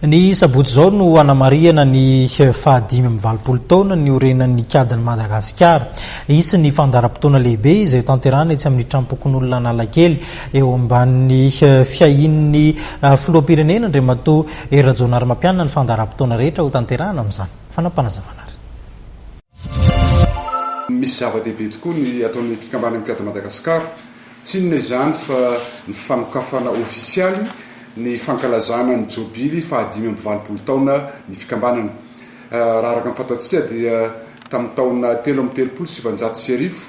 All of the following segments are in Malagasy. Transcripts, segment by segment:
Ny sabotsy izao no hanamarihana ny faha dimy amby valopolo taona niorenan'ny Ikadin'i Madagasikara. Hisy ny fandaharam-potoana lehibe izay hotanterahana etsy amin'ny Trampokonolona Analakely eo ambanin'ny fiahian'ny Filoham-pirenena Andriamatoa Hery Rajaonarimampianina ny fandaharam-potoana rehetra hotanterahana amin'izany fanapanazavana ary. Misy zava-dehibe tokoa ny ataon'ny Fikambanan'ny Mpiady Madagasikara. Tsy inona izany fa ny fanokafana ofisialy ny fankalazana ny jobily fahadimy amby valopolo taona ny fikambanana. Raha araka ny fantatsika dia tamin'ny taona telo amby telopolo sy sivanjato sy arivo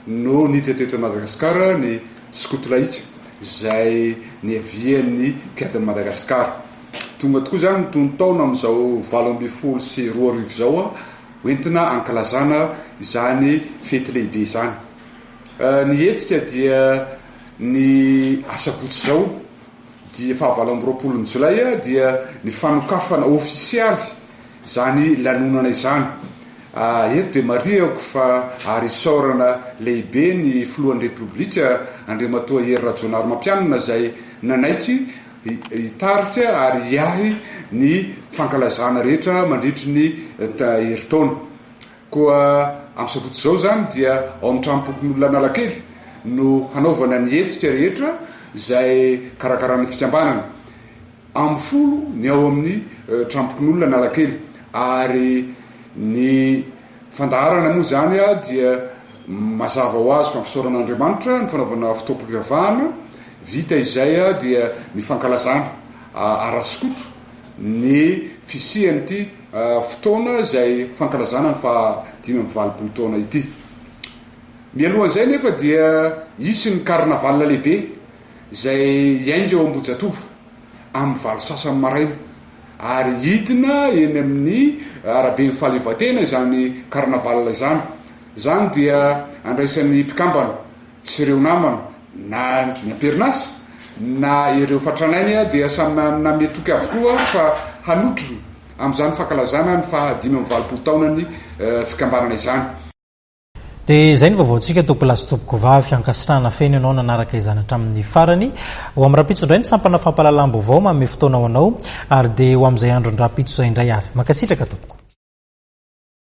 no niditra teto Madagasikara ny skoto laika izay niavian'ny mpiadin'i Madagasikara. Tonga tokoa izany ny tonon-taona amin'izao valo ambin'ny folo sy roa arivo izao ho entina ankalazana izany fety lehibe izany. Ny hetsika dia ny asabotsy izao dia fahavalo amby roapolo ny jolay dia ny fanokafana ofisialy izany lanonana izany. Eto dia marihako fa ary isaorana lehibe ny filohan'ny repoblika Andriamatoa Hery Rajaonarimampianina izay nanaiky hitarika ary hiahy ny fankalazana rehetra mandritry ny herintaona. Koa amin'ny sabotsy izao izany dia ao amin'ny Tranompokonolona Analakely no hanaovana ny hetsika rehetra izay karakarain'ny fikambanana. Amin'ny folo ny ao amin'ny Tranompokonolona Analakely ary ny fandaharana moa izany dia mazava ho azy fa fisaorana an'Andriamanitra ny fanaovana fotoam-pivavahana, vita izay dia ny fankalazana ara-skoto ny fisian'ity fotoana izay fankalazana ny faha dimy amby valopolo taona ity. Mialohan'izay anefa dia hisy ny carnaval lehibe izay hiainga ao Ambohijatovo amin'ny valo sasany maraina ary hidina eny amin'ny araben'ny fahaleovantena izany carnaval izany. Izany dia andraisan'ny mpikambana. sy ireo namana na ny amperinasa na ireo fatran'ainy dia samy name toky avokoa fa hanotrona amin'izany fankalazana ny faha dimy amby valopolo taonan'ny fikambanana izany. Dia izay ny vaovaontsika tompoko lahy sy tompoko vavy, ankasitrahana feno ianao nanaraka izany hatramin'ny farany. Ho amin'ny rahampitso indray ny sampana fampahalalam-baovao manome fotoana ho anao ary dia ho amin'izay andron'ny rahampitso izay indray ary. Mankasitraka tompoko.